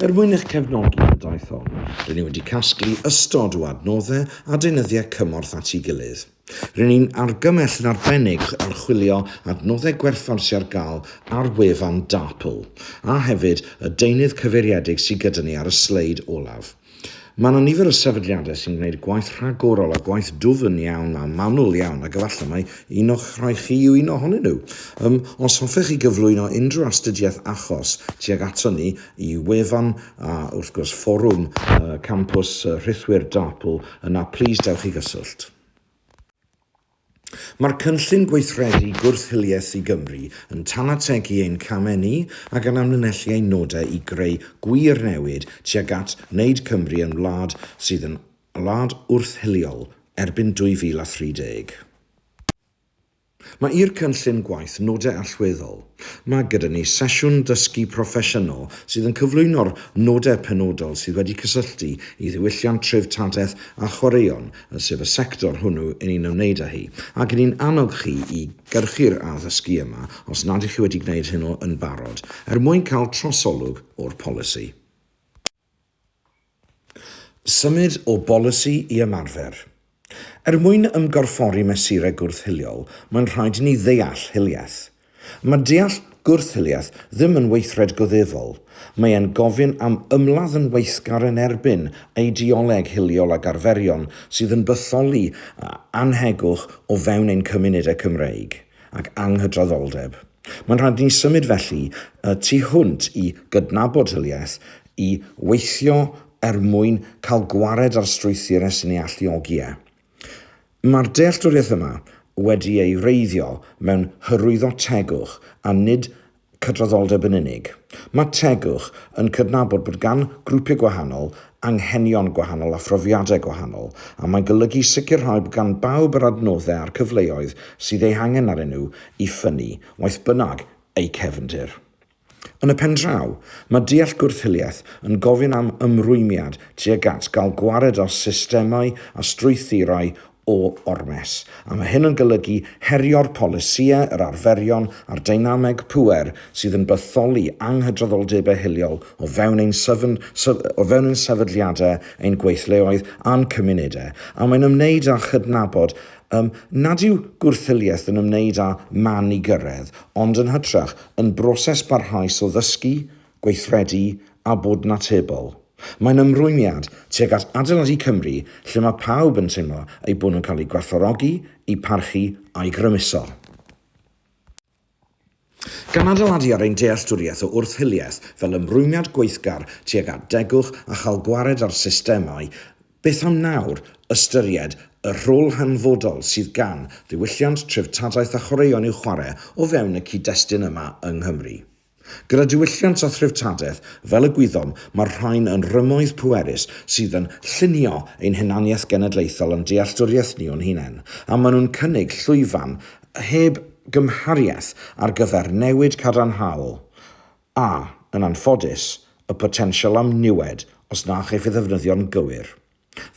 Er mwyn eich cefnogi yn y daith hon, rŷn ni wedi casglu ystod o adnoddau a deunyddiau cymorth at ei gilydd. Rŷn ni'n argymell yn arbennig archwilio adnoddau gwerthfawr sydd ar gael ar wefan DARPL, a hefyd y deunydd cyfeiriedig sydd gyda ni ar y sleid olaf. Mae yna nifer o sefydliadau sy'n gwneud gwaith rhagorol a gwaith dwfn iawn a manwl iawn ac efallai mai un o'ch rhai chi yw un ohonyn nhw. Um, os hoffech chi gyflwyno unrhyw astudiaeth achos tuag ato ni i wefan a wrth gwrs fforwm uh, campws uh, rhithwir DARPL, yna plis dewch i gyswllt. Mae'r Cynllun Gweithredu Gwrth-hiliaeth i Gymru yn tanategu ein camau ni ac yn amlinellu ein nodau i greu gwir newid tuag at wneud Cymru yn wlad sydd yn wlad wrth-hiliol erbyn 2030. Mae i'r cynllun gwaith nodau allweddol. Mae gyda ni sesiwn dysgu proffesiynol sydd yn cyflwyno'r nodau penodol sydd wedi cysylltu i ddiwylliant treftadaeth a chwaraeon yn sef y sector hwnnw yn ei ymwneud â hi, ac ni'n annog chi i gyrchu'r addysgu yma os nad ych chi wedi gwneud hynny yn barod, er mwyn cael trosolwg o'r polisi. Symud o bolisi i ymarfer. Er mwyn ymgorffori mesurau gwrth-hiliol, mae'n rhaid i ni ddeall hiliaeth. Mae deall gwrth-hiliaeth ddim yn weithred goddefol, mae e'n gofyn am ymladd yn weithgar yn erbyn eideoleg hiliol ac arferion sydd yn bytholi annhegwch o fewn ein cymunedau Cymreig ac anghydraddoldeb. Mae'n rhaid ni symud felly y tu hwnt i gydnabod hiliaeth, i weithio er mwyn cael gwared ar strwythurau sy'n ei alluogi e. Mae'r dealltwriaeth yma wedi ei wreiddio mewn hyrwyddo tegwch a nid cydraddoldeb yn unig. Mae tegwch yn cydnabod bod gan grwpiau gwahanol anghenion gwahanol a phrofiadau gwahanol, a mae'n golygu sicrhau bod gan bawb yr adnoddau a'r cyfleoedd sydd eu hangen arnyn nhw i ffynnu, waeth bynnag eu cefndir. Yn y pen draw, mae deall gwrth-hiliaeth yn gofyn am ymrwymiad tuag at gael gwared ar systemau a strwythurau o ormes, a mae hyn yn golygu herio'r polisïau, yr arferion a'r deinameg pŵer sydd yn bytholi anghydraddoldebau hiliol o fewn ein sefn, o fewn ein sefydliadau, ein gweithleoedd a'n cymunedau, a mae'n ymwneud â chydnabod um, nad yw gwrth-hiliaeth yn ymwneud â man i gyrraedd, ond yn hytrach, yn broses barhaus o ddysgu, gweithredu a bod yn atebol. Mae'n ymrwymiad tuag at adeiladu Cymru lle mae pawb yn teimlo eu bod nhw'n cael eu gwerthfawrogi, eu parchu a'u grymuso. Gan adeiladu ar ein dealltwriaeth o wrth-hiliaeth fel ymrwymiad gweithgar tuag at degwch a chael gwared ar systemau Beth am nawr ystyried y rhôl hanfodol sydd gan ddiwylliant, treftadaeth a chwaraeon i'w chwarae o fewn y cyd-destun yma yng Nghymru? Gyda diwylliant a threftadaeth fel y gwyddom, mae'r rhain yn rymoedd pwerus sydd yn llunio ein hunaniaeth genedlaethol a'n dealltwriaeth ni o'n hunain, a maen nhw'n cynnig llwyfan heb gymhariaeth ar gyfer newid cadarnhaol a, yn anffodus, y potensial am niwed os na chaiff ei ddefnyddio'n gywir.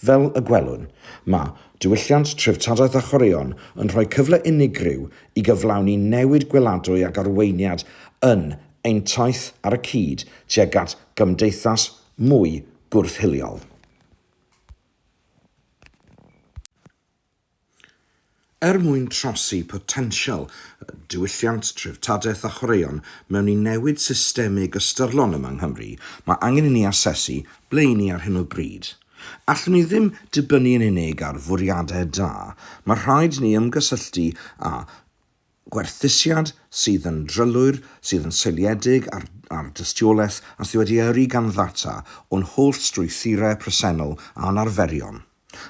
Fel y gwelwn, mae diwylliant treftadaeth a chwaraeon yn rhoi cyfle unigryw i gyflawni newid gweladwy ac arweiniad yn ein taith ar y cyd tuag at gymdeithas mwy gwrth-hiliol. Er mwyn trosi potensial y diwylliant, treftadaeth a chwaraeon mewn i newid systemig ystyrlon yma yng Nghymru, mae angen i ni asesu ble 'y ni ar hyn o bryd. Allwn ni ddim dibynnu yn unig ar fwriadau da, mae rhaid i ni ymgysylltu â gwerthusiad sydd yn drylwyr, sydd yn seiliedig ar ar dystiolaeth a sydd wedi yrru gan ddata o'n holl strwythurau presennol a'n arferion.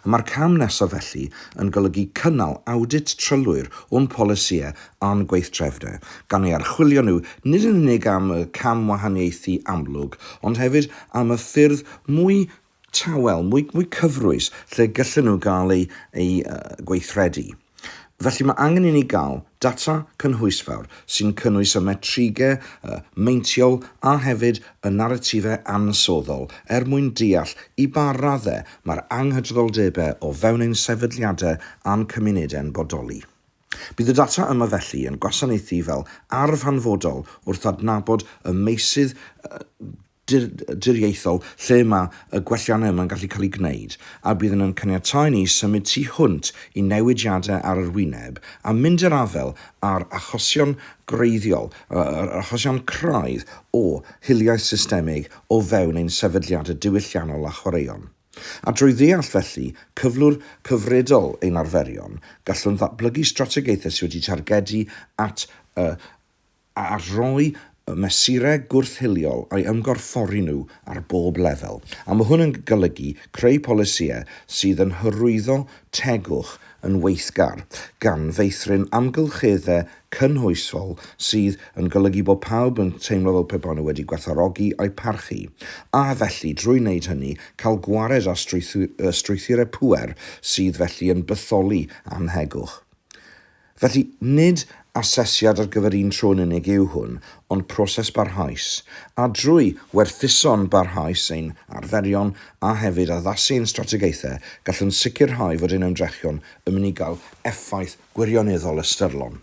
Y mae'r cam nesaf felly yn golygu cynnal awdit trylwyr o'n polisïau a'n gweithdrefnau, gan eu harchwilio nhw nid yn unig am y camwahaniaethu amlwg ond hefyd am y ffyrdd mwy tawel, mwy, mwy cyfrwys, lle gyllen nhw gael eu, eu gweithredu. Felly mae angen i ni gael data cynhwysfawr sy'n cynnwys y metrigau meintiol a hefyd y naratifau ansoddol er mwyn deall i ba raddau mae'r anghydraddoldebau o fewn ein sefydliadau a'n cymunedau'n bodoli. Bydd y data yma felly yn gwasanaethu fel arf hanfodol wrth adnabod y meysydd deddfwriaethol lle mae y gwelliannau yma'n gallu cael eu gwneud, a bydd yn caniatáu i ni symud tu hwnt i newidiadau ar yr wyneb a mynd i'r afael â'r achosion gwreiddiol, yr achosion craidd o hiliaeth systemig o fewn ein sefydliadau diwylliannol a chwaraeon. A drwy ddeall, felly, cyflwr cyfredol ein arferion, gallwn ddatblygu strategaethau sydd wedi targedu at y a rhoi y mesurau gwrth-hiliol a'i ymgorffori nhw ar bob lefel, a mae hwn yn golygu creu polisïau sydd yn hyrwyddo tegwch yn weithgar, gan feithrin amgylcheddau cynhwysfol sydd yn golygu bod pawb yn teimlo fel pe bawn nhw wedi gwerthfawrogi a'u parchu, a felly, drwy wneud hynny, cael gwared ar strwythurau pŵer sydd felly yn bytholi am hegwch. Felly, nid asesiad ar gyfer un tro yn unig yw hwn, ond proses barhaus, a drwy werthuso'n barhaus ein arferion a hefyd addasu ein strategaethau, gallwn sicrhau fod ein ymdrechion yn mynd i gael effaith gwirioneddol ystyrlon.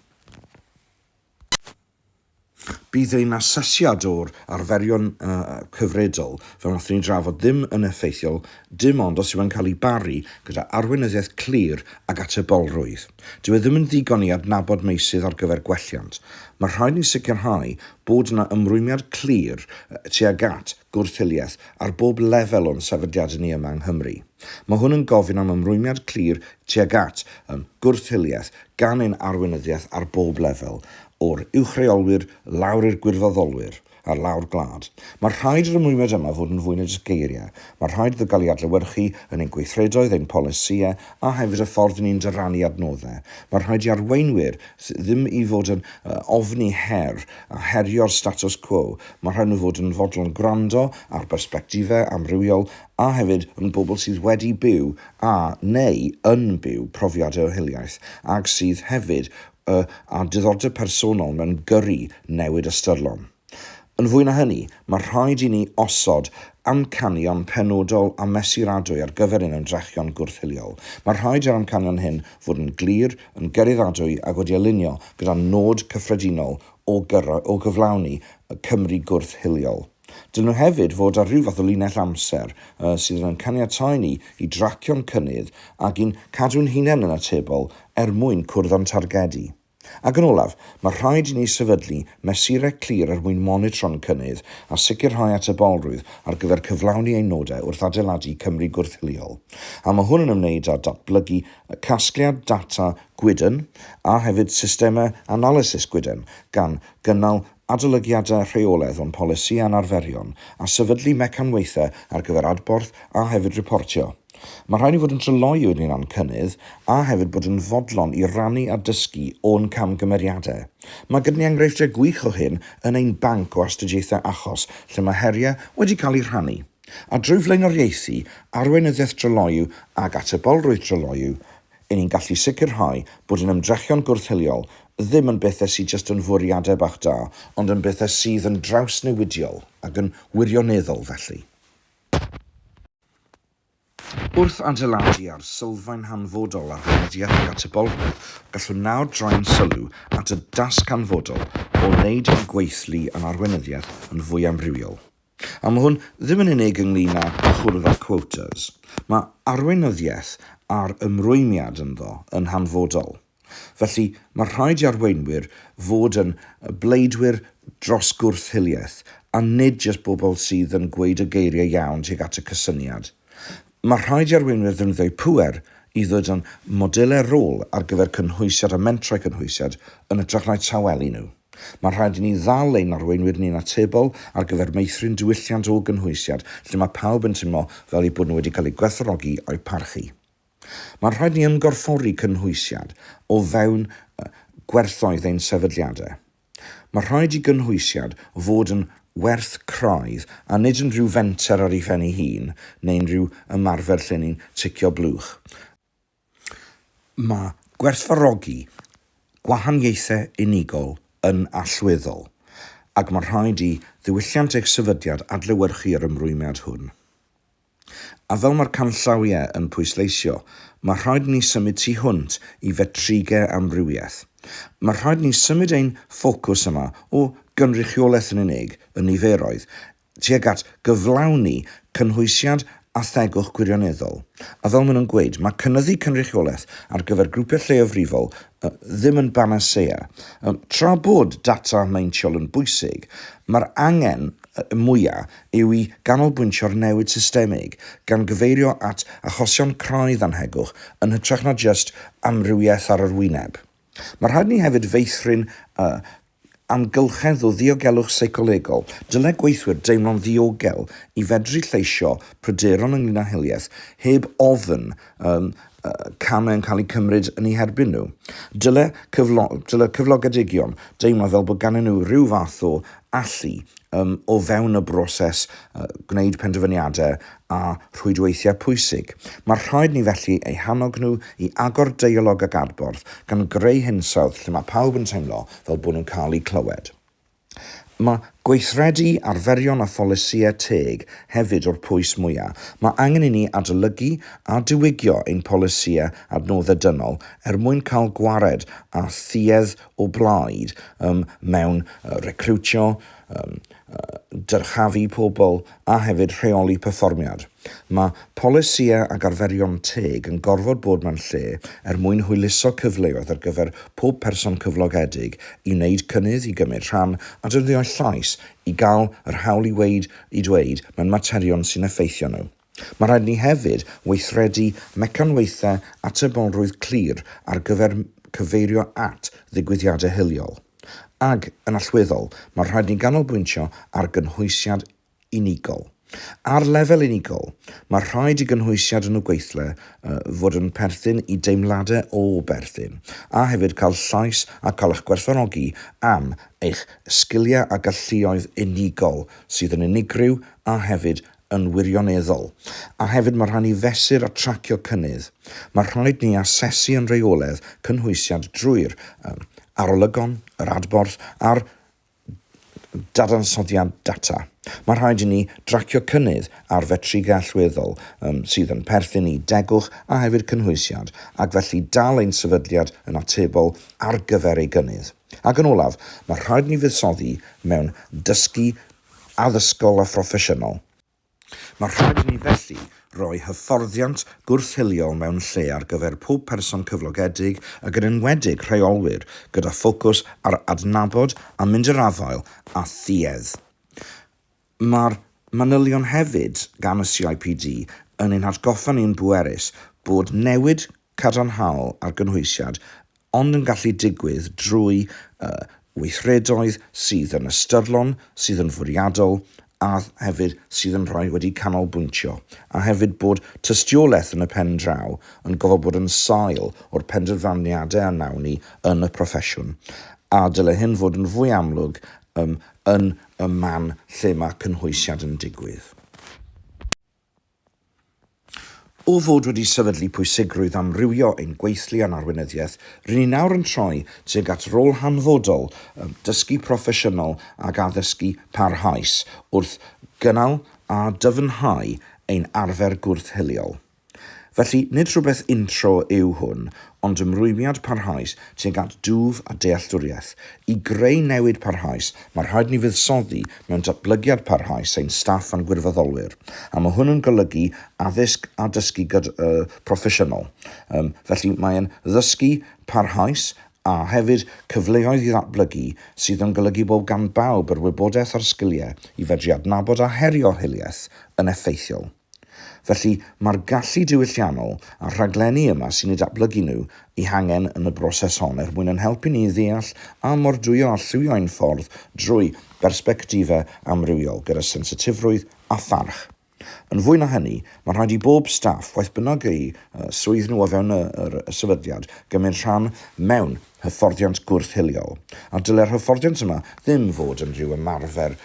Bydd ein asesiad o'r arferion cyfredol, fel wnaethon ni drafod, ddim yn effeithiol dim ond os yw e'n cael ei baru gyda arweinyddiaeth clir ac atebolrwydd. Dyw e ddim yn ddigon i adnabod meysydd ar gyfer gwelliant. Mae rhaid ni sicrhau bod yna ymrwymiad clir tuag at gwrth-hiliaeth ar bob lefel o'n sefydliadau ni yma yng Nghymru. Mae hwn yn gofyn am ymrwymiad clir tuag at gwrth-hiliaeth gan ein arweinyddiaeth ar bob lefel, o'r uwchreolwyr lawr i'r gwirfoddolwyr ar lawr gwlad. Mae rhaid i'r ymrwymiad yma fod yn fwy na jyst geiriau. Mae rhaid iddo gael ei adlewyrchu yn ein gweithredoedd, ein polisïau a hefyd y ffordd ni'n dyrannu adnoddau. Mae rhaid i arweinwyr ddim i fod yn ofni her a herio'r status quo, mae rhaid nhw fod yn fodlon gwrando ar bersbectifau amrywiol a hefyd yn bobl sydd wedi byw a neu yn byw profiad eu hiliaeth ac sydd hefyd y â diddordeb personol mewn gyrru newid ystyrlon. Yn fwy na hynny, mae rhaid i ni osod amcanion penodol a mesuradwy ar gyfer ein ymdrechion gwrth-hiliol. Mae rhaid i'r amcanion hyn fod yn glir, yn gyraeddadwy ac wedi alinio gyda'n nod cyffredinol o gyflawni Cymru gwrth-hiliol. Dylwn hefyd fod ar ryw fath o linell amser sydd yn ein caniatáu ni i dracio'n cynnydd ac i'n cadw'n hunain yn atebol er mwyn cwrdd â'n targedu. Ac yn olaf, mae rhaid i ni sefydlu mesurau clir er mwyn monitro'n cynnydd a sicrhau atebolrwydd ar gyfer cyflawni ein nodau wrth adeiladu Cymru gwrth-hiliol, a mae hwn yn ymwneud â datblygu casgliad data gwydn a hefyd systemau analysis gwydn, gan gynnal adolygiadau rheolaidd o'n polisi a'n arferion, a sefydlu mecanwaethau ar gyfer adborth a hefyd riportio. Mae rhaid ni fod yn dryloyw yn ein cynnydd a hefyd bod yn fodlon i rannu a dysgu o'n camgymeriadau. Mae gyda ni enghreifftiau gwych o hyn yn ein banc o astudiaethau achos lle mae heriau wedi cael eu rhannu. A drwy flaenoriaethu arweinyddiaeth dryloyw ac atebolrwydd dryloyw, 'yn ni'n gallu sicrhau bod ein ymdrechion gwrth-hiliol ddim yn bethau sydd jyst yn fwriadau bach da, ond yn bethau sydd yn drawsnewidiol ac yn wirioneddol felly. Wrth adeiladu ar sylfaen hanfodol ar weinyddiaeth ac atebolrwydd, gallwn nawr droi'n sylw at y dasg hanfodol o wneud ein gweithlu yn arweinyddiaeth yn fwy amrywiol. A mae hwn ddim yn unig ynglŷn â chwrdd â quotas. Mae arweinyddiaeth a'r ymrwymiad ynddo yn hanfodol. Felly, mae rhaid i arweinwyr fod yn bleidwyr dros gwrth-hiliaeth, a nid jyst bobl sydd yn gweud y geiriau iawn tuag at y cysyniad. Mae rhaid i arweinwyr ddefnyddio'u pŵer i ddod â'n modelau rôl ar gyfer cynhwysiad a mentrau cynhwysiad yn hytrach na'u tawelu nhw. Mae rhaid i ni ddal ein arweinwyr ni'n atebol ar gyfer meithrin diwylliant o gynhwysiad lle mae pawb yn teimlo fel eu bod nhw wedi cael eu gwerthfawrogi a'u parchu. Mae rhaid i ni ymgorffori cynhwysiad o fewn gwerthoedd ein sefydliadau. Mae rhaid i gynhwysiad fod yn werth craidd a nid yn rhyw fenter ar ei phen ei hun neu'n rhyw ymarfer lle ni'n ticio blwch. Mae gwerthfawrogi gwahaniaethau unigol yn allweddol ac mae rhaid i ddiwylliant eich sefydliad adlewyrchu yr ymrwymiad hwn. A fel mae'r canllawiau yn pwysleisio, mae rhaid ni symud tu hwnt i fetrigau amrywiaeth. Mae rhaid ni symud ein ffocws yma o gynrychiolaeth yn unig y niferoedd tuag at gyflawni cynhwysiant a thegwch gwirioneddol. A fel maen nhw'n gweud, mae cynyddu cynrychiolaeth ar gyfer grwpiau lleiafrifol ddim yn banasea. Tra bod data meintiol yn bwysig, mae'r angen mwyaf yw i ganolbwyntio ar newid systemig, gan gyfeirio at achosion craidd annhegwch yn hytrach na jyst amrywiaeth ar yr wyneb. Mae rhaid i ni hefyd feithrin y amgylchedd o ddiogelwch seicolegol, dylai gweithwyr deimlo'n ddiogel i fedru lleisio pryderon ynglŷn â hiliaeth heb ofn y camau yn cael eu cymryd yn eu herbyn nhw. Dylai cyflogedigion deimlo fel bod ganddyn nhw rhyw fath o allu o fewn y broses gwneud penderfyniadau a rhwydweithiau pwysig. Mae rhaid ni felly eu hannog nhw i agor deialog ac adborth, gan greu hinsawdd lle mae pawb yn teimlo fel bod nhw'n cael eu clywed. Mae gweithredu arferion a pholisïau teg hefyd o'r pwys mwyaf. Mae angen i ni adolygu a diwygio ein polisïau adnoddau dynol er mwyn cael gwared â thuedd o blaid mewn recriwtio, dyrchafu pobl a hefyd rheoli perfformiad. Mae polisïau ac arferion teg yn gorfod bod mewn lle er mwyn hwyluso cyfleoedd ar gyfer pob person cyflogedig i wneud cynnydd, i gymryd rhan, a defnyddio'u llais i gael yr hawl i weud, i ddweud, mewn materion sy'n effeithio nhw. Mae'n rhaid i ni hefyd weithredu mecanwaethau atebolrwydd clir ar gyfer cyfeirio at ddigwyddiadau hiliol. Ac, yn allweddol, mae'n rhaid i ni ganolbwyntio ar gynhwysiad unigol. Ar lefel unigol, mae'n rhaid i gynhwysiad yn y gweithle fod yn perthyn i deimladau o berthyn, a hefyd cael llais a cael eich gwerthfawrogi am eich sgiliau a galluoedd unigol sydd yn unigryw a hefyd yn wirioneddol, a hefyd mae rhaid ni fesur a tracio cynnydd. Mae rhaid ni asesu yn rheoledd cynhwysiad drwy'r um, arolygon, yr adborth a'r dadansoddiad data. Mae rhaid i ni dracio cynnydd ar fetrigau allweddol um, sydd yn perthyn i degwch a hefyd cynhwysiad, ac felly dal ein sefydliad yn atebol ar gyfer ei gynnydd. Ac yn olaf, mae rhaid ni fuddsoddi mewn dysgu addysgol a phroffesiynol. Mae rhaid i ni felly roi hyfforddiant gwrth-hiliol mewn lle ar gyfer pob person cyflogedig ac yn enwedig rheolwyr gyda ffocws ar adnabod a mynd i'r afael â thuedd. Mae'r manylion hefyd gan y CIPD yn ein hatgoffa ni'n bwerus bod newid cadarnhaol ar gynhwysiad ond yn gallu digwydd drwy y weithredoedd sydd yn ystyrlon, sydd yn fwriadol a hefyd sydd yn rhoi wedi canolbwyntio, a hefyd bod tystiolaeth yn y pen draw yn gofod bod yn sail o'r penderfyniadau a wnawn ni yn y proffesiwn, a dyle hyn fod yn fwy amlwg yn y man lle mae cynhwysiad yn digwydd. O fod wedi sefydlu pwysigrwydd amrywio ein gweithlu a'n arweinyddiaeth, rŷn ni nawr yn troi tuag at rôl hanfodol dysgu proffesiynol ac addysgu parhaus wrth gynnal a dyfnhau ein arfer gwrth-hiliol. Felly, nid rhywbeth untro yw hwn, ond ymrwymiad parhaus tuag at dwf a dealltwriaeth. I greu newid parhaus, mae rhaid ni fuddsoddi mewn datblygiad parhaus ein staff a'n gwirfoddolwyr, a mae hwn yn golygu addysg a dysgu proffesiynol. Felly, mae'n ddysgu parhaus a hefyd cyfleoedd i ddatblygu sydd yn golygu bod gan bawb yr wybodaeth a'r sgiliau i fedru adnabod a herio hiliaeth yn effeithiol. Felly, mae'r gallu diwylliannol a'r rhaglenni yma sy'n eu datblygu nhw eu hangen yn y broses hon er mwyn ein helpu ni i ddeall a mordwyo a lliwio ein ffordd drwy berspectifau amrywiol gyda sensitifrwydd a pharch. Yn fwy na hynny, mae'n rhaid i bob staff, foeth bynnag eu swydd nhw o fewn y sefydliad, gymryd rhan mewn hyfforddiant gwrth-hiliol, a dylai'r hyfforddiant yma ddim fod yn rhyw ymarfer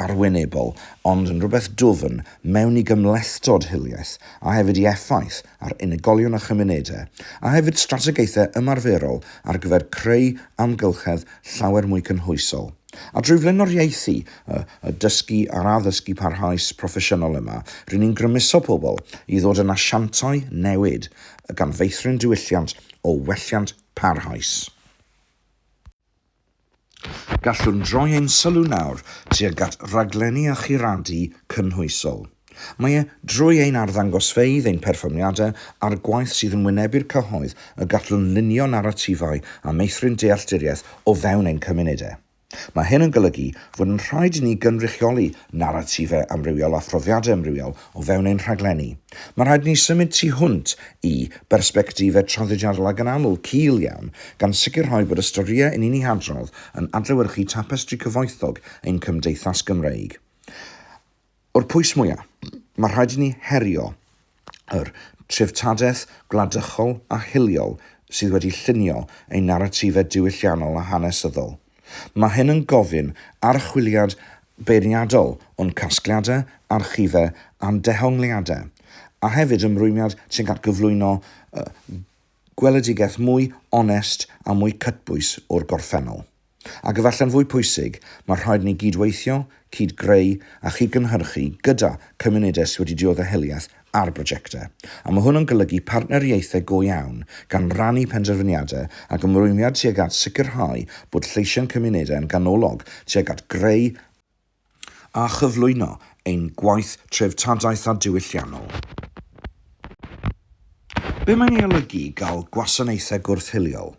arwynebol, ond yn rhywbeth dwfn mewn i gymhlethdod hiliaeth a hefyd i effaith ar unigolion a chymunedau, a hefyd strategaethau ymarferol ar gyfer creu amgylchedd llawer mwy cynhwysol. A drwy flaenoriaethu y dysgu a'r addysgu parhaus proffesiynol yma, ry'n ni'n grymuso pobl i ddod yn asiantau newid, gan feithrin diwylliant o welliant, parhaus. Gallwn droi ein sylw nawr tuag at raglenni a churadu cynhwysol. Mae e drwy ein arddangosfeydd, ein perfformiadau a'r gwaith sydd yn wynebu'r cyhoedd y gallwn lunio naratifau a meithrin dealltwriaeth o fewn ein cymunedau. Mae hyn yn golygu fod yn rhaid i ni gynrychioli naratifau amrywiol a phrofiadau amrywiol o fewn ein rhaglenni. Mae'n rhaid i ni symud tu hwnt i bersbectifau traddodiadol ac yn aml cul iawn, gan sicrhau bod y storïau 'yn ni'n eu hadrodd yn adlewyrchu tapestri cyfoethog ein cymdeithas Gymreig. O'r pwys mwyaf, mae rhaid i ni herio yr treftadaeth gwladychol a hiliol sydd wedi llunio ein naratifau diwylliannol a hanesyddol. Mae hyn yn gofyn archwiliad beirniadol o'n casgliadau, archifau a'n dehongliadau, a hefyd ymrwymiad tuag at gyflwyno gweledigaeth mwy onest a mwy cytbwys o'r gorffennol. Ac efallai'n fwy pwysig, mae rhaid i ni gyd-weithio, cyd-greu a chyd-gynhyrchu gyda chymunedau sydd wedi diodde hiliaeth ar brojectau. A mae hwn yn golygu partneriaethau go iawn, gan rannu penderfyniadau ac ymrwymiad tuag at sicrhau bod lleisiau'n cymunedau yn ganolog tuag at greu a a chyflwyno ein gwaith treftadaeth a diwylliannol. Be mae'n ei olygu i gael gwasanaethau gwrth-hiliol?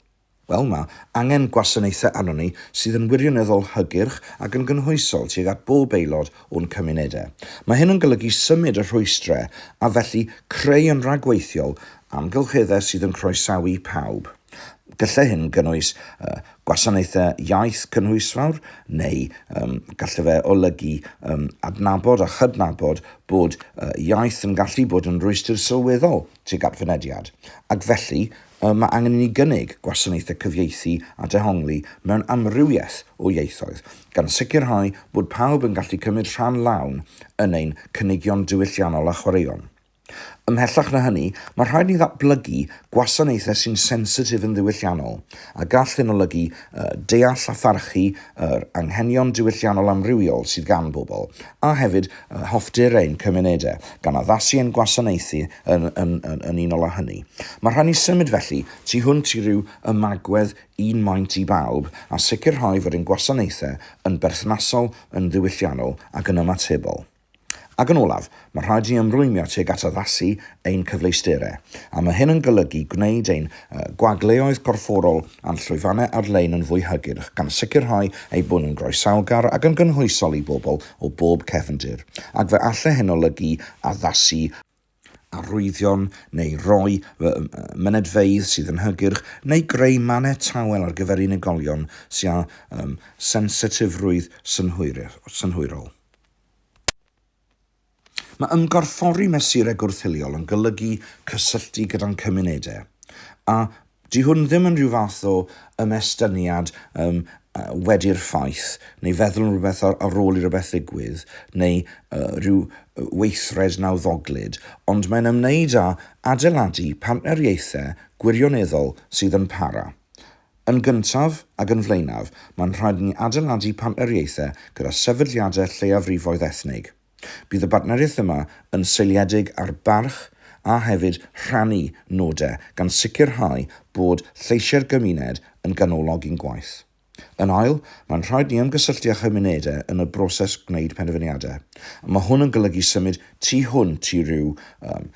Wel, mae angen gwasanaethau arnon ni sydd yn wirioneddol hygyrch ac yn gynhwysol tuag at bob aelod o'n cymunedau. Mae hyn yn golygu symud y rhwystrau a felly creu yn rhagweithiol amgylcheddau sydd yn croesawu pawb. Gallai hyn gynnwys uh, gwasanaethau iaith cynhwysfawr neu um, gallai fe olygu um, adnabod a chydnabod bod uh, iaith yn gallu bod yn rwystr sylweddol tuag at fynediad, ac felly uh, mae angen i ni gynnig gwasanaethau cyfieithu a dehongli mewn amrywiaeth o ieithoedd, gan sicrhau bod pawb yn gallu cymryd rhan lawn yn ein cynigion diwylliannol a chwaraeon. Ymhellach na hynny, mae rhaid ni ddatblygu gwasanaethau sy'n sensitif yn ddiwylliannol, a gall hyn olygu deall a pharchu yr anghenion diwylliannol amrywiol sydd gan bobl, a hefyd hoffter ein cymunedau, gan addasu ein gwasanaethau yn yn yn yn unol â hynny. Mae rhaid ni symud felly tu hwnt i ryw ymagwedd un maint i bawb, a sicrhau fod ein gwasanaethau yn berthnasol, yn ddiwylliannol ac yn ymatebol. Ac yn olaf, mae rhaid i ni ymrwymio tuag at addasu ein cyfleusterau, a mae hyn yn golygu gwneud ein gwagleoedd corfforol a'n llwyfannau ar-lein yn fwy hygyrch, gan sicrhau eu bod nhw'n groesawgar ac yn gynhwysol i bobl o bob cefndir, ac fe alle hyn olygu addasu arwyddion neu roi fy mynedfeydd sydd yn hygyrch neu greu mannau tawel ar gyfer unigolion sy â sensitifrwydd synhwyrol. Mae ymgorffori mesurau gwrth-hiliol yn golygu cysylltu gyda'n cymunedau a Dyw hwn ddim yn rhyw fath o ymestyniad yym wedi'r ffaith, neu feddwl am rywbeth ar ar ôl i rywbeth ddigwydd, neu yy rhyw weithred nawddoglyd, ond mae'n ymwneud â adeiladu partneriaethau gwirioneddol sydd yn para. Yn gyntaf ac yn flaenaf, mae'n rhaid i ni adeiladu partneriaethau gyda sefydliadau lleiafrifoedd ethnig. Bydd y bartneriaeth yma yn seiliedig ar barch a hefyd rhannu nodau gan sicrhau bod lleisiau'r gymuned yn ganolog i'n gwaith. Yn ail, mae'n rhaid ni ymgysylltu â chymunedau yn y broses gwneud penderfyniadau. Mae hwn yn golygu symud tu hwnt i ryw um,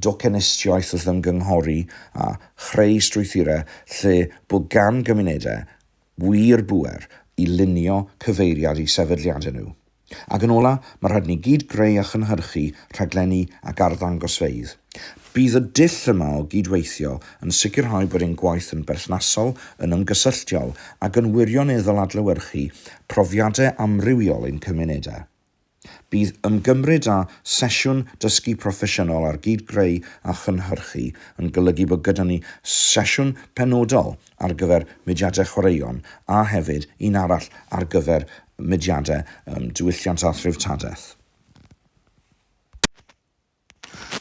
docenistiaeth wrth ymgynghori a chreu strwythurau lle bod gan gymunedau wir bŵer i lunio cyfeiriad i sefydliadau nhw. Ac yn ola, mae rhaid ni gyd greu a chynhyrchu rhaglenni ac arddangosfeydd. Bydd y dull yma o gyd-weithio yn sicrhau bod ein gwaith yn berthnasol, yn ymgysylltiol ac yn wirioneddol adlewyrchu profiadau amrywiol ein cymunedau. Bydd ymgymryd â sesiwn dysgu proffesiynol ar gyd-greu a chynhyrchu yn golygu bod gyda ni sesiwn penodol ar gyfer mudiadau chwaraeon a hefyd un arall ar gyfer mudiadau diwylliant a threftadaeth.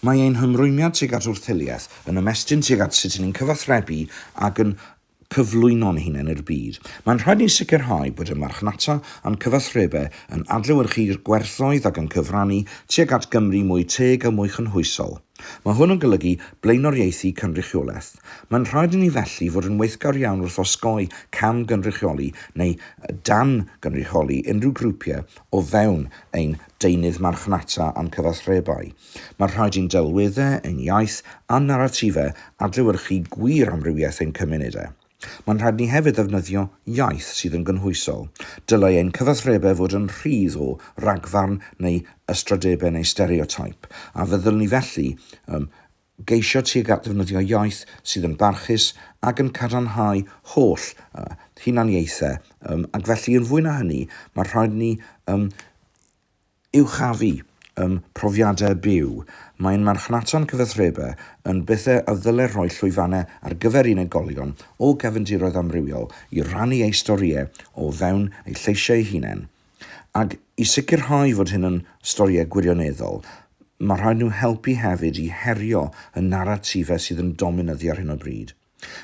Mae ein hymrwymiad tuag at wrth-hiliaeth yn ymestyn tuag at sut 'y ni'n cyfathrebu ac yn cyflwyno'n hunain i'r byd. Mae'n rhaid i ni sicrhau bod y marchnata a'n cyfathrebau yn adlewyrchu i'r gwerthoedd ac yn cyfrannu tuag at Gymru mwy teg a mwy chynhwysol. Mae hwn yn golygu blaenoriaethu cynrychiolaeth. Mae'n rhaid i ni felly fod yn weithgar iawn wrth osgoi cam-gynrychioli neu dan-gynrychioli unrhyw grwpiau o fewn ein deunydd marchnata a'n cyfathrebau. Mae rhaid i'n delweddau, ein iaith a'n naratifau adlewyrchu gwir amrywiaeth ein cymunedau. Mae'n rhaid ni hefyd ddefnyddio iaith sydd yn gynhwysol. Dylai ein cyfathrebau fod yn rhydd o ragfarn neu ystrydebau neu stereoteip, a feddylwn i felly, ym Geisio tuag at ddefnyddio iaith sydd yn barchus ac yn cadarnhau holl yy hunaniaethau yym ac felly yn fwy na hynny mae rhaid ni yym uchafu yym profiadau byw. Mae ein marchnaton cyfathrebau yn bethau a ddylai rhoi llwyfannau ar gyfer unigolion o gefndiroedd amrywiol i rannu eu storïau o fewn eu lleisiau eu hunain Ac i sicrhau fod hyn yn storïau gwirioneddol, mae rhaid nhw helpu hefyd i herio y naratifau sydd yn dominyddio ar hyn o bryd.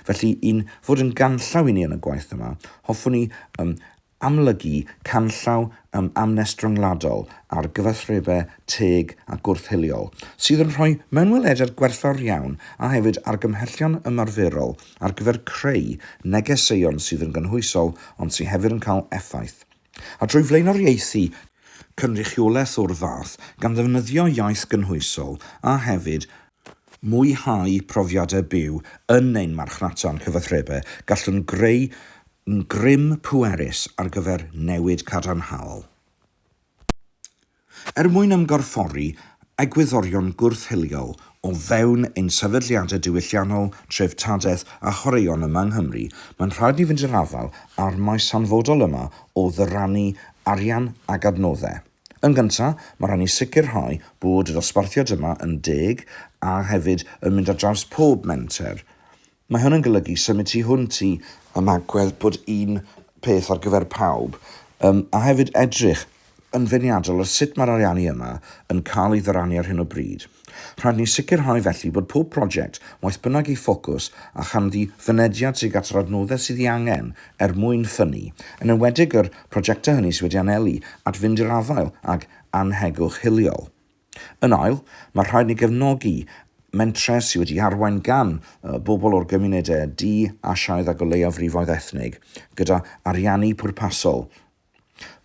Felly, i'n fod yn ganllaw i ni yn y gwaith yma, hoffwn ni um, amlygu canllaw um, amnest ryngwladol ar gyfathrebau teg a gwrth-hiliol, sydd yn rhoi mewnwelediad gwerthfawr iawn a hefyd argymhellion ymarferol ar gyfer creu negeseuon sydd yn gynhwysol ond sydd hefyd yn cael effaith. A drwy flaenoriaethu cynrychiolaeth o'r fath, gan ddefnyddio iaith gynhwysol, a hefyd mwynhau profiadau byw yn ein marchnata a'n cyfathrebau, gallwn greu grym pwerus ar gyfer newid cadarnhaol. Er mwyn ymgorffori egwyddorion gwrth-hiliol o fewn ein sefydliadau diwylliannol, treftadaeth a chwaraeon yma yng Nghymru, mae'n rhaid ni fynd i'r afael â'r maes hanfodol yma o ddyrannu arian ac adnoddau. Yn gyntaf, mae rhaid ni sicrhau bod y dosbarthiad yma yn deg a hefyd yn mynd ar draws pob menter Mae hwn yn golygu symud tu hwnt i ymagwedd bod un peth ar gyfer pawb, yym, a hefyd edrych yn feirniadol ar sut mae'r ariannu yma yn cael ei ddyrannu ar hyn o bryd. Rhaid ni sicrhau felly bod pob prosiect, waeth bynnag ei ffocws a chanddi, fynediad tuag at yr adnoddau sydd ei angen er mwyn ffynnu, yn enwedig yr prosiectau hynny sydd wedi anelu at fynd i'r afael ag annhegwch hiliol. Yn ail, mae rhaid ni gefnogi mentrau sydd wedi arwain gan bobl o'r gymunedau du, Asiaidd ac o leiafrifoedd ethnig, gyda ariannu pwrpasol.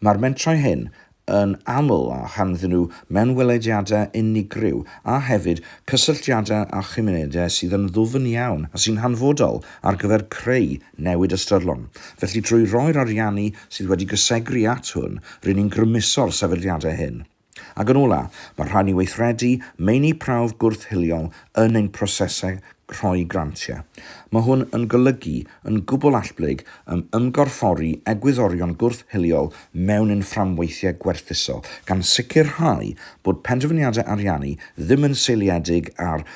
Mae'r mentrau hyn yn aml â chanddyn nhw mewnwelediadau unigryw a hefyd cysylltiadau â chymunedau sydd yn ddwfn iawn a sy'n hanfodol ar gyfer creu newid ystyrlon. Felly, drwy roi'r ariannu sydd wedi gysegru at hwn, ry'n ni'n grymuso'r sefydliadau hyn. Ac yn ola', mae rhaid ni weithredu meini prawf gwrth-hiliol yn ein prosesau rhoi grantiau. Mae hwn yn golygu yn gwbl allblyg ym ymgorffori egwyddorion gwrth-hiliol mewn ein fframweithiau gwerthuso, gan sicrhau bod penderfyniadau ariannu ddim yn seiliedig ar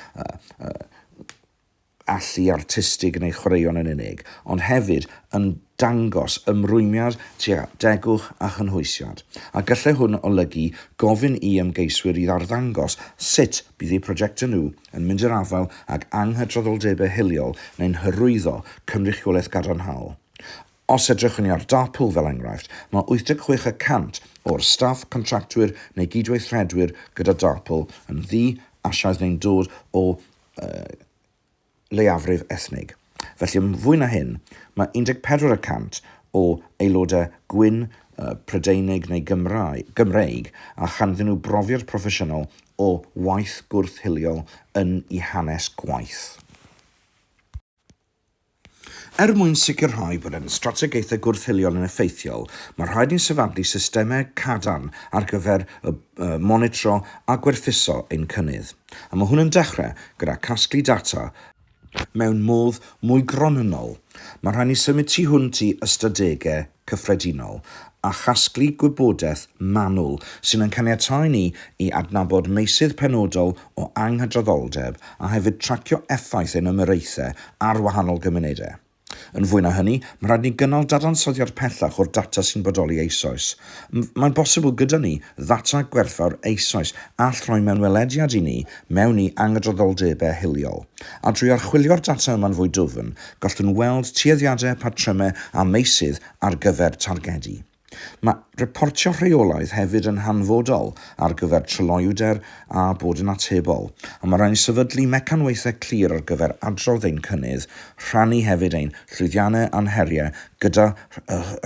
allu artistig yn ei chwaraeon yn unig, ond hefyd yn dangos ymrwymiad tuag at degwch a chynhwysiad, a gallai hwn olygu gofyn i ymgeiswyr i arddangos sut bydd eu prosiectau nhw yn mynd i'r afael ag anghydraddoldebau hiliol neu'n hyrwyddo cynrychiolaeth gadarnhaol. Os edrychwn ni ar Darpool fel enghraifft, mae 86 y cant o'r staff, contractwyr neu gydweithredwyr gyda Darpool yn ddu-Asiaidd neu'n dod o uh, leiafrif ethnig. Felly, yn fwy na hyn, mae 14 y cant o aelodau gwyn uh, Prydeinig neu Gymraeg, Gymreig a chanddyn nhw brofiad proffesiynol o waith gwrth-hiliol yn i hanes gwaith. Er mwyn sicrhau bod ein strategaethau gwrth-hiliol yn effeithiol, mae'n rhaid ni sefydlu systemau cadarn ar gyfer monitro a gwerthuso ein cynnydd, a mae hwn yn dechrau gyda casglu data, mewn modd mwy gronynnol, mae'n rhaid ni symud tu hwnt i ystadegau cyffredinol a chasglu gwybodaeth manwl sy'n ein caniatáu ni i adnabod meysydd penodol o anghydraddoldeb a hefyd tracio effaith ein ymyraethau ar wahanol gymunedau. Yn fwy na hynny, mae'n rhaid ni gynnal dadansoddiad pellach o'r data sy'n bodoli eisoes. Mae'n bosibl gyda ni ddata gwerthfawr eisoes all rhoi mewnwelediad i ni mewn i anghydraddoldebau hiliol. A drwy archwilio'r data yma'n fwy dwfn, Gallwn weld tueddiadau, patrymau a meysydd ar gyfer targedu. Mae reportio rheolaidd hefyd yn hanfodol ar gyfer tryloywder a bod yn atebol, ond mae rhaid sefydlu mecanwaethau clir ar gyfer adrodd ein cynnydd, rhannu hefyd ein llwyddiannau a'n heriau gyda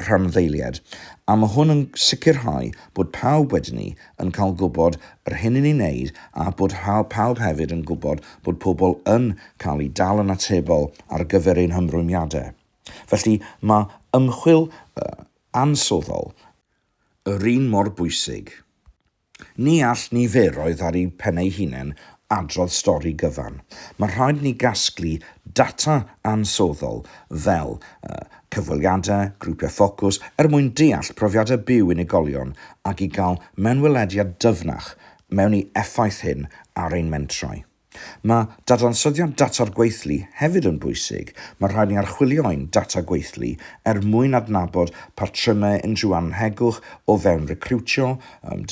rhanddeiliaid, a mae hwn yn sicrhau bod pawb wedyn ni yn cael gwybod yr hyn i ni'n wneud a bod pawb hefyd yn gwybod bod pobl yn cael eu dal yn atebol ar gyfer ein hymrwymiadau. Felly, mae ymchwil ansoddol yr un mor bwysig. Ni all niferoedd ar eu pen eu hunain adrodd stori gyfan. Mae rhaid ni gasglu data ansoddol fel cyfweliadau, grwpiau ffocws er mwyn deall profiadau byw unigolion ac i gael mewnwelediad dyfnach mewn i effaith hyn ar ein mentrau. Mae dadansoddiad data'r gweithlu hefyd yn bwysig, mae rhaid ni archwilio ein data gweithlu er mwyn adnabod patrymau unrhyw annhegwch o fewn recriwtio,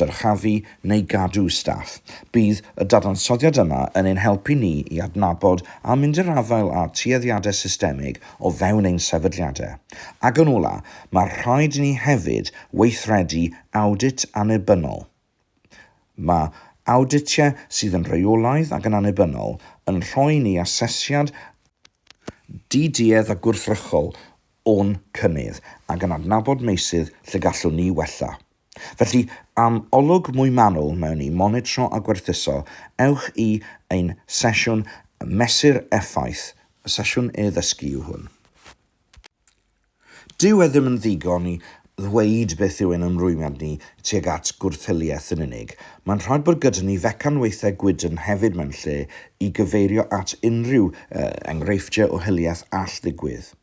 dyrchafu neu gadw staff. Bydd y dadansoddiad yma yn ein helpu ni i adnabod a mynd i'r afael â tueddiadau systemig o fewn ein sefydliadau. Ac yn ola, mae rhaid i ni hefyd weithredu awdit annibynnol. Mae awditiau sydd yn rheolaidd ac yn annibynnol yn rhoi ni asesiad di-duedd a gwrthrychol o'n cynnydd ac yn adnabod meysydd lle gallwn ni wella. Felly, am olwg mwy manwl mewn i monitro a gwerthuso, ewch i ein sesiwn Mesur Effaith, sesiwn e-ddysgu yw hwn. Dyw e ddim yn ddigon i ddweud beth yw ein ymrwymiad ni tuag at gwrth-hiliaeth yn unig. Mae'n rhaid bod gyda ni fecanwaethau gwydn hefyd mewn lle i gyfeirio at unrhyw enghreifftiau o hiliaeth all ddigwydd.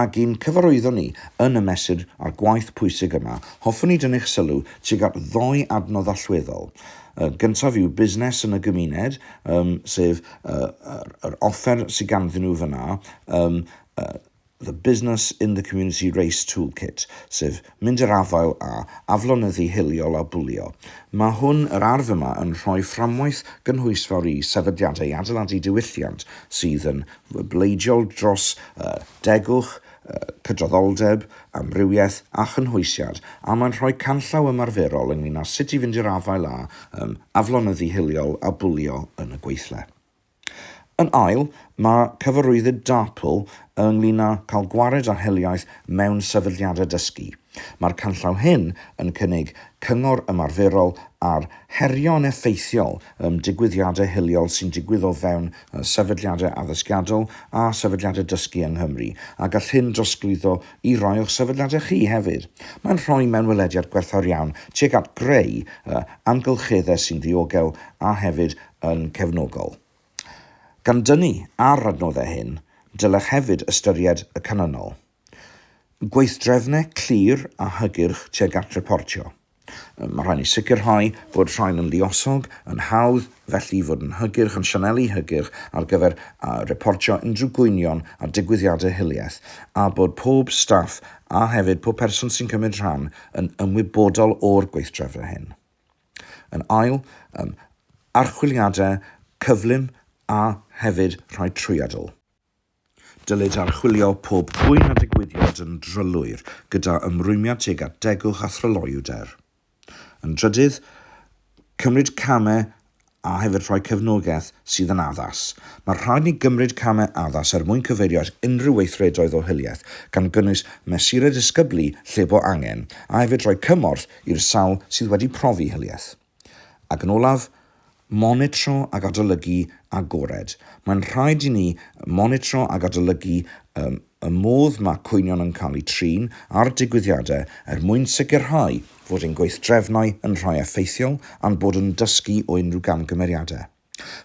Ac i'n cyfarwyddo ni yn y mesur a'r gwaith pwysig yma, hoffwn i dynnu'ch sylw tuag at ddou adnodd allweddol. Y gyntaf yw busnes yn y gymuned, um, sef uh, yr, yr offer sydd ganddyn nhw fyna, um, uh, the Business in the Community Race Toolkit, sef Mynd i'r afael â aflonyddu hiliol a bwlio. Mae hwn, yr arf yma, yn rhoi fframwaith gynhwysfawr i sefydliadau i adeiladu diwylliant sydd yn bleidiol dros degwch, cydraddoldeb, amrywiaeth a chynhwysiad, a mae'n rhoi canllaw ymarferol ynglŷn â sut i fynd i'r afael â aflonyddu hiliol a bwlio yn y gweithle. Yn ail, mae cyfarwyddyd DARPL ynglŷn â cael gwared ar hiliaeth mewn sefydliadau dysgu. Mae'r canllaw hyn yn cynnig cyngor ymarferol ar herio'n effeithiol ym digwyddiadau hiliol sy'n digwydd o fewn sefydliadau addysgiadol a sefydliadau dysgu yng Nghymru, a gall hyn drosglwyddo i rai o'ch sefydliadau chi hefyd. Mae'n rhoi mewnwelediad gwerthfawr iawn tuag at greu amgylcheddau sy'n ddiogel a hefyd yn cefnogol. Gan dynnu ar adnoddau hyn, dylech hefyd ystyried y canlynol, gweithdrefnau clir a hygyrch tuag at reportio. Mae rhaid ni sicrhau bod rhain yn lluosog, yn hawdd, felly i fod yn hygyrch, yn sianelu hygyrch ar gyfer reportio unrhyw gwynion a digwyddiadau hiliaeth, a bod pob staff a hefyd pob person sy'n cymryd rhan yn ymwybodol o'r gweithdrefnau hyn. Yn ail, um, archwiliadau cyflym a hefyd rhai trwyadl. Dylid archwilio pob cwyn a digwyddiad yn drylwyr gyda ymrwymiad tuag at degwch a thryloywder. Yn drydydd, cymryd camau a hefyd rhoi cefnogaeth sydd yn addas. Mae rhaid ni gymryd camau addas er mwyn cyfeirio at unrhyw weithredoedd o hiliaeth, gan gynnwys mesurau disgyblu lle bo angen, a hefyd rhoi cymorth i'r sawl sydd wedi profi hiliaeth. Ac yn olaf, monitro ac adolygu agored. Mae'n rhaid i ni monitro ac adolygu y Y modd mae cwynion yn cael eu trin ar digwyddiadau er mwyn sicrhau fod ein gweithdrefnau yn rhai effeithiol a'n bod yn dysgu o unrhyw gamgymeriadau.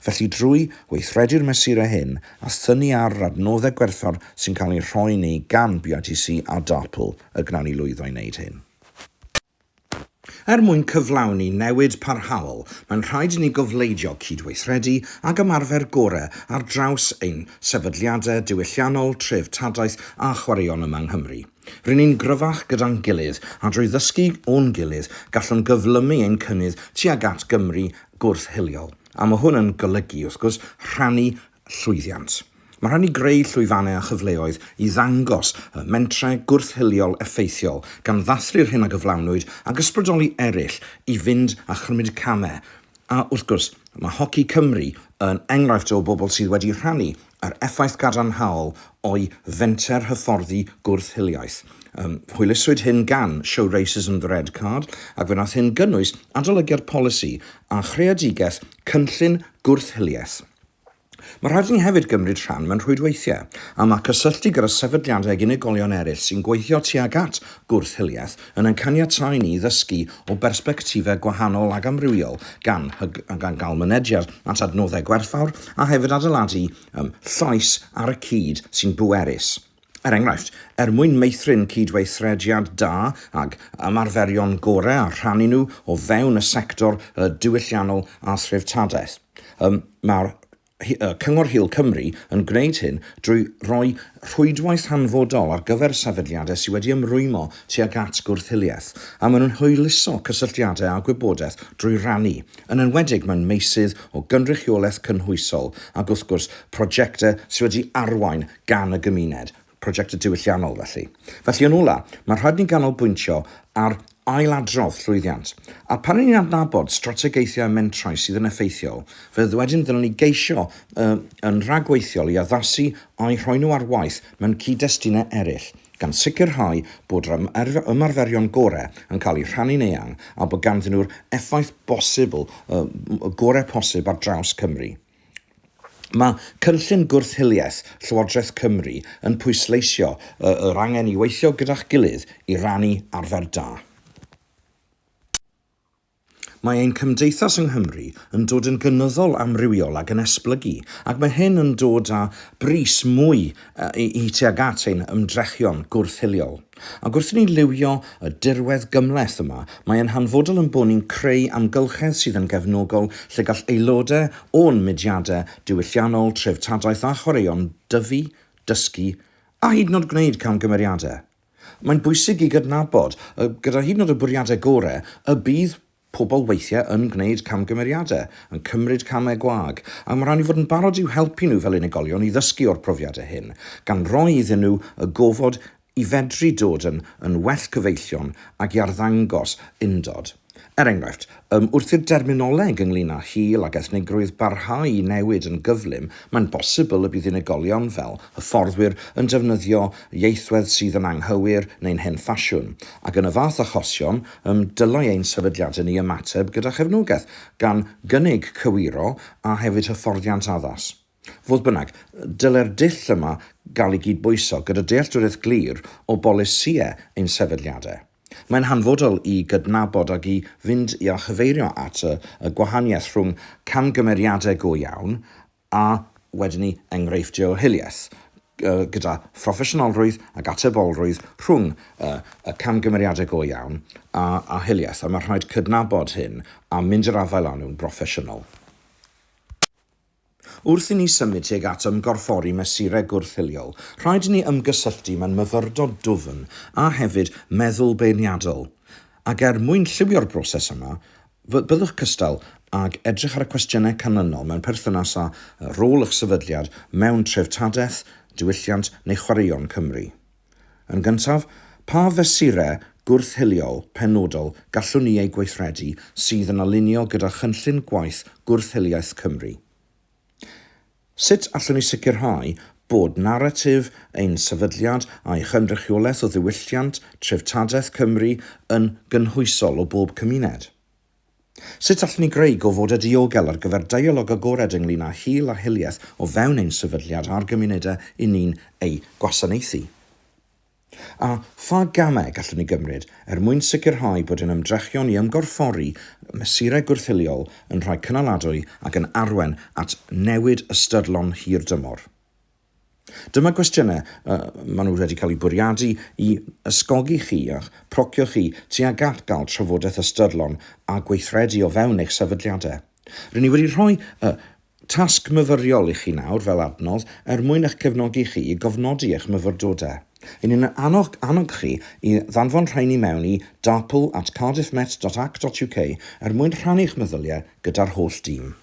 Felly drwy weithredu'r mesurau hyn a thynnu ar yr adnoddau gwerthfawr sy'n cael eu rhoi i ni gan BITC a DARPL y gwnawn ni lwyddo i wneud hyn. Er mwyn cyflawni newid parhaol, mae'n rhaid i ni gofleidio cydweithredu ag ymarfer gorau ar draws ein sefydliadau diwylliannol, treftadaeth a chwaraeon yma yng Nghymru. Ry'n ni'n gryfach gyda'n gilydd, a drwy ddysgu o'n gilydd, gallwn gyflymu ein cynnydd tuag at Gymru gwrth-hiliol. A mae hwn yn golygu, wrth gwrs, rhannu llwyddiant. Mae rhaid ni greu llwyfannau a chyfleoedd i ddangos y mentrau gwrth-hiliol effeithiol, gan ddathlu'r hyn a gyflawnwyd, ac ysbrydoli eraill i fynd a chymryd camau, a, wrth gwrs, mae Hoci Cymru yn enghraifft o bobl sydd wedi rhannu yr effaith gadarnhaol o'u fenter hyfforddi gwrth-hiliaeth. Yym, hwyluswyd hyn gan Show Racism the Red Card, ac fe wnaeth hyn gynnwys adolygiad polisi a chreadigaeth cynllun gwrth-hiliaeth. Mae rhaid i ni hefyd gymryd rhan mewn rhwydweithiau a mae cysylltu gyda sefydliadau ac unigolion eraill sy'n gweithio tuag at gwrth-hiliaeth yn ein caniatáu ni i ddysgu o bersbectifau gwahanol ac amrywiol gan gael mynediad at adnoddau gwerthfawr a hefyd adeiladu llais ar y cyd sy'n bwerus Er enghraifft, er mwyn meithrin cydweithrediad da ag ymarferion gorau a rhannu nhw o fewn y sector diwylliannol a threftadaeth, mae Cyngor Hil Cymru yn gwneud hyn drwy roi rhwydwaith hanfodol ar gyfer sefydliadau sydd wedi ymrwymo tuag at gwrth-hiliaeth, a maen nhw'n hwyluso cysylltiadau a gwybodaeth drwy rannu, yn enwedig mewn meysydd o gynrychiolaeth cynhwysol ac wrth gwrs prosiectau sydd wedi arwain gan y gymuned, prosiectau diwylliannol felly. Felly, yn ola', ma' rhaid ni ganolbwyntio ar ailadrodd llwyddiant. A pan 'yn ni'n adnabod strategaethau mentrau sydd yn effeithiol, fe wedyn ddylwn ni geisio y yn rhagweithiol i addasu a'u rhoi nhw ar waith mewn cyd-destunau eraill, gan sicrhau bod yr yr ymarferion gore' yn cael eu rhannu'n eang a bod ganddyn nhw'r effaith bosibl y y gore' posib ar draws Cymru. Mae cynllun gwrth-hiliaeth Llywodraeth Cymru yn pwysleisio y yr angen i weithio gyda'ch gilydd i rannu arfer da. Mae ein cymdeithas yng Nghymru yn dod yn gynyddol amrywiol ac yn esblygu, ac mae hyn yn dod â bris mwy i i tuag at ein ymdrechion gwrth-hiliol. Ac wrth i ni liwio y dirwedd gymhleth yma, mae e'n hanfodol ein bod ni'n creu amgylchedd sydd yn gefnogol lle gall aelodau o'n mudiadau diwylliannol, treftadaeth a chwaraeon dyfu, dysgu a hyd yn oed gwneud camgymeriadau. Mae'n bwysig i gydnabod, gyda hyd yn oed y bwriadau gorau, y bydd Pobl weithiau yn gwneud camgymeriadau, yn cymryd camau gwag, ac mae rhaid ni fod yn barod i'w helpu nhw fel unigolion i ddysgu o'r profiadau hyn, gan roi iddyn nhw y gofod i fedru dod yn yn well cyfeillion ac i arddangos undod. Er enghraifft, ym, wrth i'r derminoleg ynglŷn â hil ac ethnigrwydd barhau i newid yn gyflym, mae'n bosibl y bydd unigolion, fel hyfforddwyr, yn defnyddio ieithwedd sydd yn anghywir neu'n hen ffasiwn, ac yn y fath achosion, Ym dylai ein sefydliadau ni ymateb gyda chefnogaeth, gan gynnig cywiro a hefyd hyfforddiant addas. Fodd bynnag, dylai'r dull yma gael ei gydbwyso gyda dealltwriaeth glir o bolisïau ein sefydliadau. Mae'n hanfodol i gydnabod ac i fynd i a chyfeirio at y gwahaniaeth rhwng camgymeriadau go iawn a wedyn ni enghreifftiau o hiliaeth, gyda phroffesiynolrwydd ac atebolrwydd rhwng y camgymeriadau go iawn a hiliaeth, a mae rhaid cydnabod hyn a mynd i'r afael â nhw'n broffesiynol. Wrth i ni symud tuag at ymgorffori mesurau gwrth-hiliol, rhaid i ni ymgysylltu mewn myfyrdod dwfn a hefyd meddwl beirniadol, ac er mwyn lliwio'r broses yma, Byddwch cystal ag edrych ar y cwestiynau canlynol mewn perthynas â rôl eich sefydliad mewn treftadaeth, diwylliant neu chwaraeon Cymru. Yn gyntaf, pa fesurau gwrth-hiliol penodol gallwn ni eu gweithredu sydd yn alinio gyda Chynllun Gwaith Gwrth-hiliaeth Cymru? Sut allwn ni sicrhau bod naratif ein sefydliad a'i chynrychiolaeth o ddiwylliant treftadaeth Cymru yn gynhwysol o bob cymuned? Sut allwn ni greu gofodau diogel ar gyfer deialog agored ynglŷn â hil a hiliaeth o fewn ein sefydliad a'r gymunedau 'yn ni'n eu gwasanaethu? A pha gamau gallwn ni gymryd er mwyn sicrhau bod ein ymdrechion i ymgorffori mesurau gwrth-hiliol yn rhai cynaladwy ac yn arwain at newid ystyrlon hirdymor? Dyma gwestiynau y maen nhw wedi cael eu bwriadu i ysgogi chi a'ch procio chi tuag at gael trafodaeth ystyrlon a gweithredu o fewn eich sefydliadau. Rŷn ni wedi rhoi y tasg myfyriol i chi nawr fel adnodd er mwyn eich cefnogi chi i gofnodi eich myfyrdodau. Rŷn ni'n annog annog chi i ddanfon rheini mewn i darpl at cardiffmet.ac.uk er mwyn rhannu'ch meddyliau gyda'r holl dîm.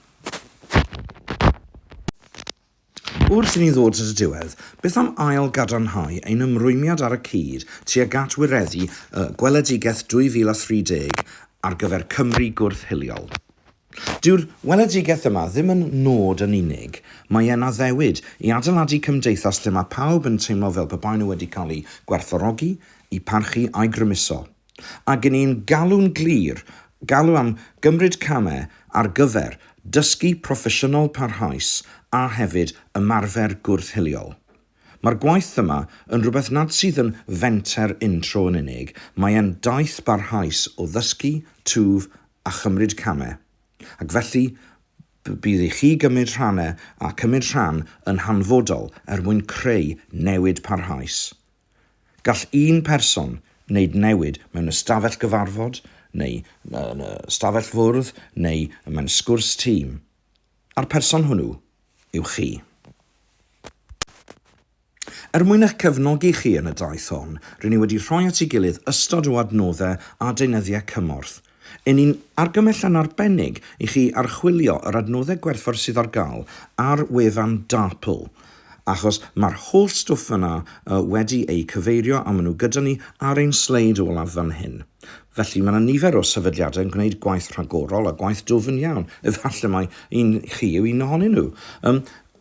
Wrth i ni ddod at y diwedd, beth am ail-gadarnhau ein ymrwymiad ar y cyd tuag at wireddu y Gweledigaeth 2030 ar gyfer Cymru gwrth-hiliol? Dyw'r Weledigaeth yma ddim yn nod yn unig, mae e'n addewid i adeiladu cymdeithas lle mae pawb yn teimlo fel pe baen nhw wedi cael eu gwerthfawrogi, eu parchu a'u grymuso. Ac yn un galw'n glir, galw am gymryd camau ar gyfer dysgu proffesiynol parhaus a hefyd ymarfer gwrth-hiliol. Mae'r gwaith yma yn rhywbeth nad sydd yn fenter un-tro yn unig, mae e'n daith barhaus o ddysgu, twf a chymryd camau. Ac felly, bydd i chi gymryd rhanau a cymryd rhan yn hanfodol er mwyn creu newid parhaus. Gall un person wneud newid mewn ystafell gyfarfod, neu yn y stafell fwrdd, neu mewn sgwrs tîm, a'r person hwnnw yw chi. Er mwyn eich cefnogi chi yn y daith hon, rŷn ni wedi rhoi at ei gilydd ystod o adnoddau a deunyddiau cymorth Yn un argymell yn arbennig i chi archwilio yr adnoddau gwerthfawr sydd ar gael ar wefan DARPL, achos mae'r holl stwff yna wedi eu cyfeirio a maen nhw gyda ni ar ein sleid olaf fan hyn. Felly, mae yna nifer o sefydliadau yn gwneud gwaith rhagorol a gwaith dwfn iawn, efallai mai un chi yw un ohonyn nhw. Yym,